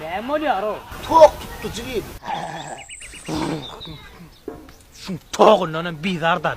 Näme bolýar o? Tok tutdy jigim. Şu togundan hem bizar da.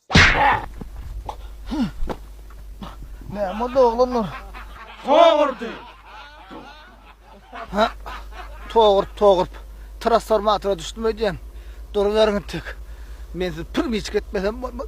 Näme boldy oglanlar? Togurdy. Ha? Togurt, togurt. Transformatora düşdüm öýdýän. Duruberiň tek. Men siz pir miçik etmesem bolmaz.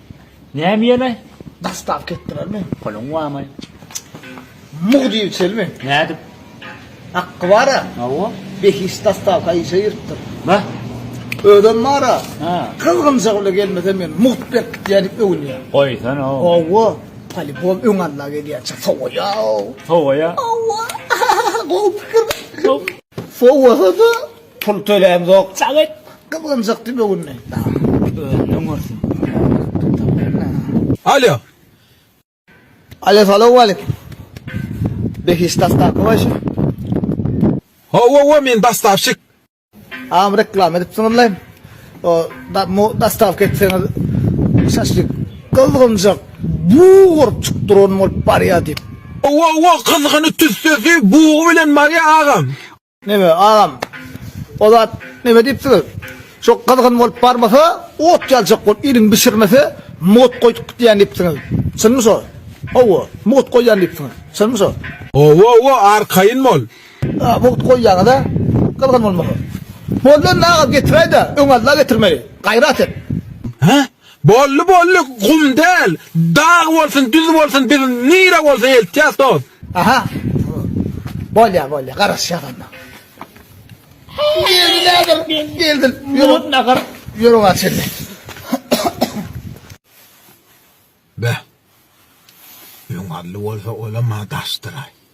Näme ýene? Dastap ketdilermi? Puluň barmy? Mug diýip çelmi? Nädip? Haqqy bara? Hawa. Behişt dastawka işe giripdir. Bah. Özem bara. Ha. Gyzgynjak bile gelmese men mugt berip gitýär diýip öwünýär. Goýsana. Hawa. Polibom öň alla gelýär. Çak sowaýa. Sowaýa. Hawa. Gowy pikir. Sow. Sowasa-da Pul töläm zok çak et. Gyzgynjykdy böwünli dam. Özünden görsün. Alo. Alo salowmaleýkim. Behişt dastaky goý şu. Hawa wa men dastavşik. Agam reklama edipsiňizle. O da mu dastavka etseňiz şaşlyk gyzgynjak buw urup çykyp duran bolup barýa diýip. Hawa wa gyzgyny tüssesi buw bilen barýa agam. Neme agam. O zat neme diýipsiňiz? Şo gyzgyn bolup barmasa, ot ýaljak bolup iliň bişirmese, mugt goýduk gitýän diýipsiňiz. Çynmy şo? Hawa, mugt goýýan diýipsiňiz. Çynmy şo? Hawa, hawa, arkaýyn bol. A, mugt goýýaňyz-a, gyzgyn bolmasa. Boldy indi agam getiräý-de, öň alda getirmegi. Gaýrat et. Hä? Boldy boldy gum däl dag bolsun düz bolsun biz nire bolsa eltýäs dos. Aha bolýa bolýa garaşýas onda. Geldi näder geldi ýörün nahar ýörün aç indi. Beh. Öň ally bolsa olam ha daşdyraý.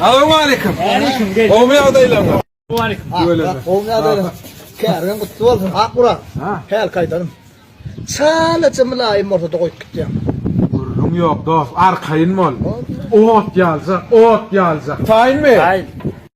Assalamu aleyküm. Aleyküm. Gowmy ýagdaýlaryňyz? Aleyküm. Gowmy ýagdaýlaryň? Käriň gutly bolsun. Ak urak. Häl kaýdarym. Çalaja mylaýym bolsa da goýup gitýäň. Gürrüň ýok dos, arkaýyn bol. Ot ýaljak, ot ýaljak. Taýynmy? Taýyn.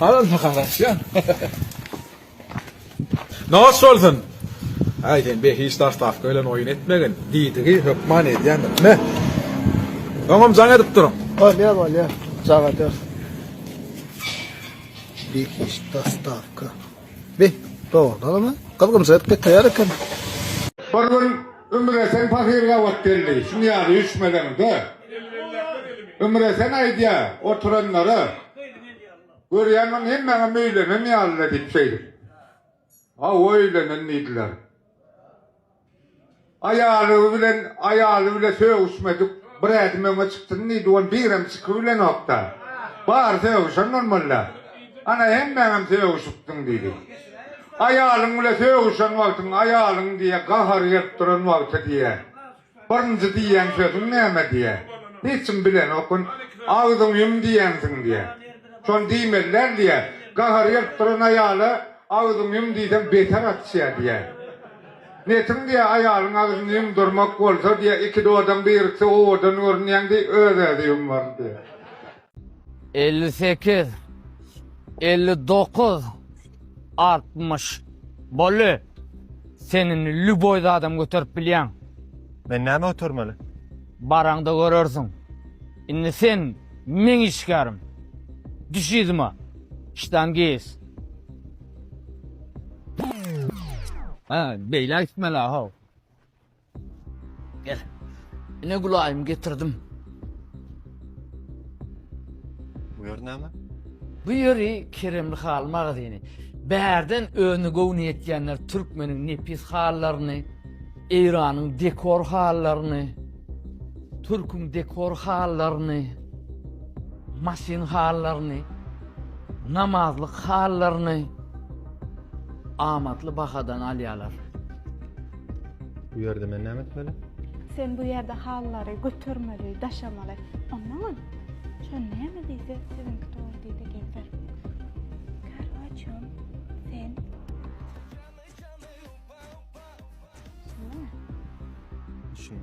Halal mı karaş ya? Naş olsun. Ay sen be hiç taş taf kölen oyun etmegin. Didigi hökman edyen. Ne? Tamam can edip durun. Ha ne var ya? Zaga dört. Bir hiç taş taf kö. Bir doğru da mı? Kızgın zırh bir tayar eken. Bir gün Ümresen pahyr gabat geldi. Şuň ýaly üýşmeleňde, Ümresen aýdýar, oturanlara, Görýäňmi, hemmäňem öýlenen ýaly-la diýip şeýdip. Hawa, öýlenen diýdiler. Aýaly bilen, aýaly bile sögüşmedik, bir ädim öňe çykdyn diýdi, ol birem çykybilenok-da. Bary sögüşen bolmaly-la. Ana, hemmäňem sögüşipdiň diýdi. Aýalyň bile sögüşen wagtyň aýalyň diýe gahary gelip duran wagty diýe birinji diýen sözüň näme diýe hiç kim bilenokyn agzyň ýum diýensiň diýe şony diýmeli däl diýe gahary gelip duran aýala agzyň ýum diýseň beter atýa diýe netiň diýe aýalyň agzyny ýumdurmak bolsa diýe iki dodaň birikse owadan görünýäň diýe öz özi ýummaly diýe. elli sekiz, elli dokuz, altmyş. Boldy. Sen indi lýuboý zadam göterip bilýäň. Men näme götermeli? Baraňda görersiň. Indi sen meň işgärim. Düş yzyma, ştangist. Hä, beýläk gitmeli-ä, how. Gel. Ine Gülaýym getirdim. Bu ýer näme? Bu ýeri Keremli haly magazyny. Bärden öni göwni ýetýänler türkmeniň nepis halylaryny, Eýranyň dekor halylaryny, türküň dekor halylaryny, maşyn halylaryny, namazlyk halylaryny amatly bahadan alýarlar. Bu ýerde men näme etmeli? Sen bu ýerde hallary götermeli, daşamaly. Ondan Şo näme diýse, siziňki dogry diýdi Gevher. Karwaçon, sen. Şun.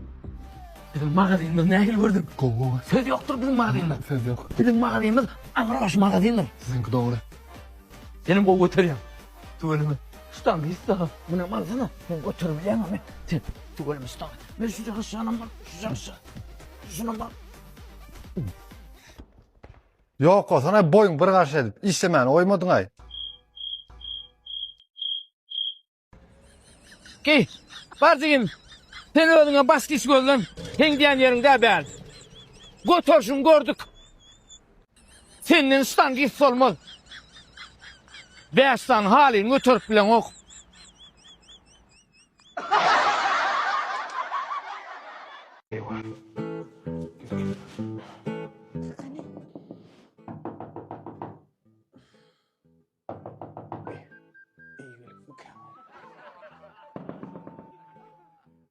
Bizim magazynymyz nähili gördün? Gowy. Söz ýokdur bizim magazynymyz. Söz ýok. Bizim magazynymyz agroş magazyndyr. Siziňki dogry. Senem gowy göterýäň. Tüweleme, ştaňy ýyssag al. Muny alsana, sen göterebilýäňmi? Sen, tüweleme ştaňy. Men şujak aşagynam bar, şujak aşagy. Şunam bar. Ýok bolsana boýuň bir garşy edip işlemäni goýmadyňaý. Geý. Bar jigim. Sen özüňe bas giç gözlen. Sen diýen ýeriňde bäl. Göterişiňi gördük. Senden ştan gis bolmaz. Bäş sany halyny göterip bileňok.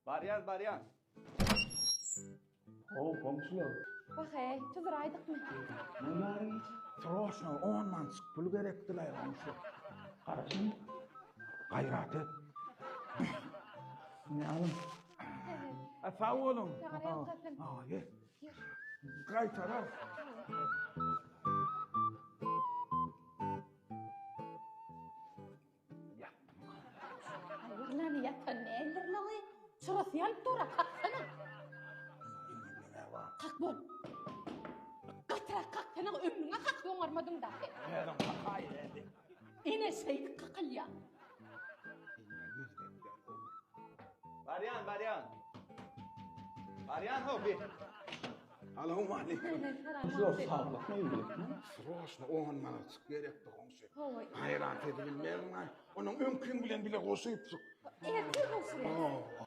Barýas, barýas. Ho, goňşular. Wah-eý, tuzuraýdykmy? Nemaň iş? Sroşno on mançyk pul gerekdi-laý, goňşy. Garaşyň, gaýrat et. Ine alyň. Sag boluň. Saňa ýalkasyn. Aý. Gaýtarar. Ýatdym. Ýatan däldirle we çyrasy ýanyp dur-a, kaksana. Kak bol. Gatyrak kaksana, ömrüňe kak, oňarmadyň dagy. Özüň kakaýberdiň. Ene şeýdip kakylýar. Eline gözden ber gowy. Barýan barýan. Barýan how bir. Salowmaleýkim. Zor saglykmy ýürekmi? Sroşna on manatjyk gerekdi goňşy. Hawa. Gaýrat edip bilmermiň-aý. Onuň öňkiň bilen bile goşup çyk. Ertir goşular.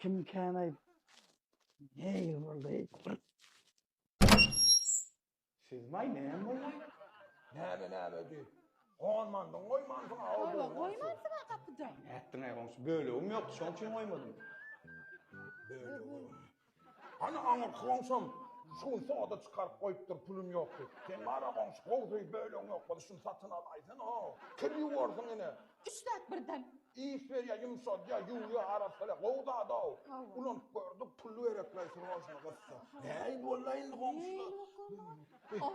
Kim kän aýyp. Neý boldy? Siz maý näme boldy? Näme näme diý. Gonmandyň goýmansyň a o Ýa goýmansyň a gapyda. Nätdiň-aý goňşy? Bölegim ýokdy, şoň üçin goýmadym. Bölegim. Hany aňyr goňşam şu gün soda çykaryp goýupdyr pulum ýok diýip. Sen bar-a goňşy gowy söýüp bölegiň ýok bolsa şuny satyn alaýsana. Kir ýuwarsyň ine. Üç zat birden. Iýs berýär, ýumşaldýar, ýuwýar, arassalýar. Gowy zad-ow. Ulanyp gördük, pul berekleý srožny gyssa. Näin walla indi goňşular.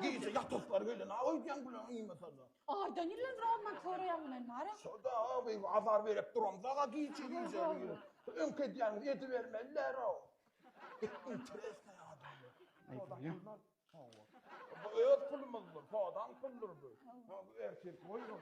Gije ýatasylary gelýär. Naýt edýäň bular iýmesene. Aýdan ýylan roman köreýäň men mara. Şoda awy azar berip duram daga giçi giçi. Öňki edýän edi bermeliler o. Interesne adam. Şoda ýylan. Bu öz pulumyz bu. Şoda puldur bu. Ertir goýun.